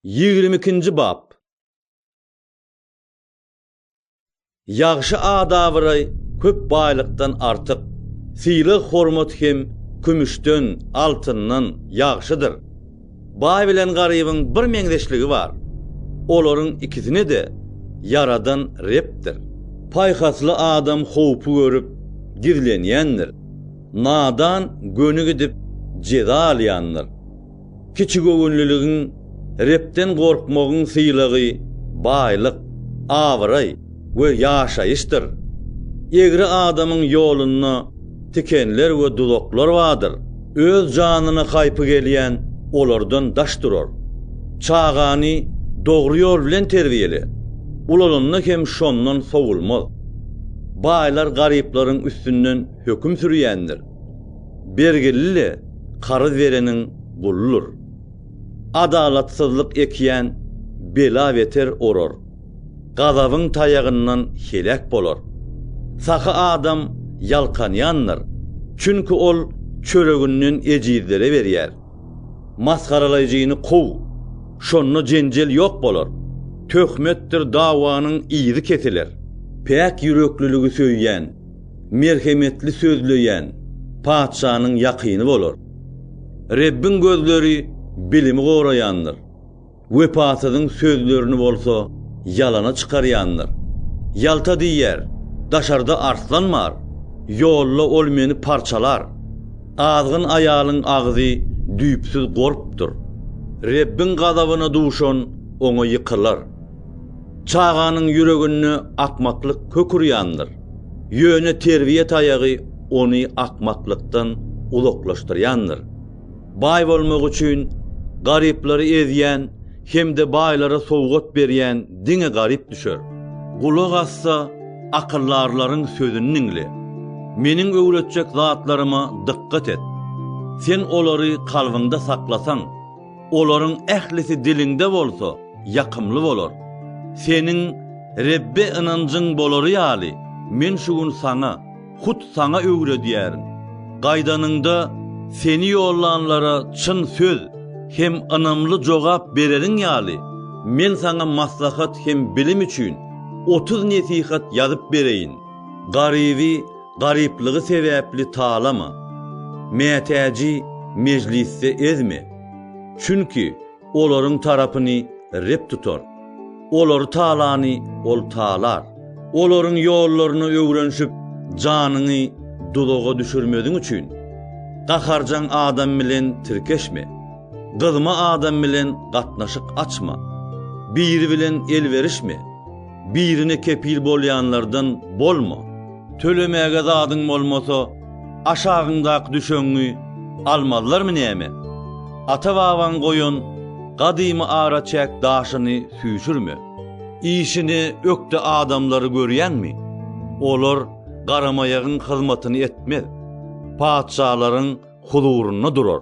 Ýigrimi ikinji bap. Ýagşy adabaraý köp baýlykdan artyk, sylag-hormat hem kümüşden, altyndan, ýagşydyr. Baý bilen garybyň bir meňzeşligi bar, olaryň ikisini-de ýaradan Rebdir. Paýhasly adam howpy görüp, gizlenýändir, nadan göni gidip, jeza alýandyr. Kiçigöwünliligiň, Rebden gorkmagyň sylagy baýlyk, abraý we ýaşaýyşdyr. Egri adamyň ýolunda tikenler we duzaklar bardyr. Öz janyna haýpy gelýän olardan daş durar. Çagany dogry ýol bilen terbiýele, ulalanda hem şondan sowulmaz. Baýlar garyplaryň üstünden höküm sürýändir. Bergili-le karyz bereniň guludyr. Adalatsyzlyk ekýän bela-beter orar, gazabyň taýagyndan heläk bolar. Sahy adam ýalkanýandyr, çünki ol çöreginden ejizlere berýär. Masgaralaýjyny kow, şonda jenjel ýok bolar. Töhmetdir dawanyň yzy kesiler. Päk ýürekliligi söýýän merhemetli sözleýän patyşanyň ýakyny bolar. Rebbiň gözleri bilimi goraýandyr, wepasyzyň sözlerini bolsa ýalana çykarýandyr. Ýalta diýýär, Daşarda arslan bar, ýolda ol meni parçalar. Azgyn aýalyň agzy düýpsüz gorpdur. Rebbiň gazabyna duşan oňa ýykylar. Çaganyň ýüreginde akmaklyk kök urýandyr. Ýöne terbiýe taýagy ony akmaklykdan uzaklaşdyrýandyr. Baý bolmak üçin garyplary ezýän hem-de baýlara sowgat berýän diňe garyp düşer. Gulak asda akyldarlaryň sözüni diňle. Meniň öwretjek zatlaryma dykgat et. Sen olary kalbyňda saklasaň. Olaryň ählisi diliňde bolsa, ýakymly bolar. Seniň Rebbe ynanjyň bolary ýaly, men şu gün saňa, hut saňa öwredýärin. Gaýdanyňda, seni ýollanlara çyn söz hem ynamly jogap bereriň ýaly, men saňa maslahat hem bilim üçin otuz nesihat ýazyp bereýin. Garyby Garyplygy sebäpli talama, mätäji mejlisde ezme, çünki olaryň tarapyny Reb tutar. Olary talany Ol talar. Olaryň ýollaryna öwrenişip, janyňy duzaga düşürmeziň üçin, gaharjaň adam bilen tirkeşme, gyzma adam bilen gatnaşyk açma, biri bilen el berişme. birine kepil bolýanlardan bolma. Tölemäge zadyň bolmasa, aşagyňdaky düşegiňi almazlarmy näme? Ata-babaň goýan gadymy araçäk daşyny süýşürme. Işine ökde adamlary görýäňmi? Olar garamaýagyň hyzmatyny etmez, patyşalaryň huzurynda durar.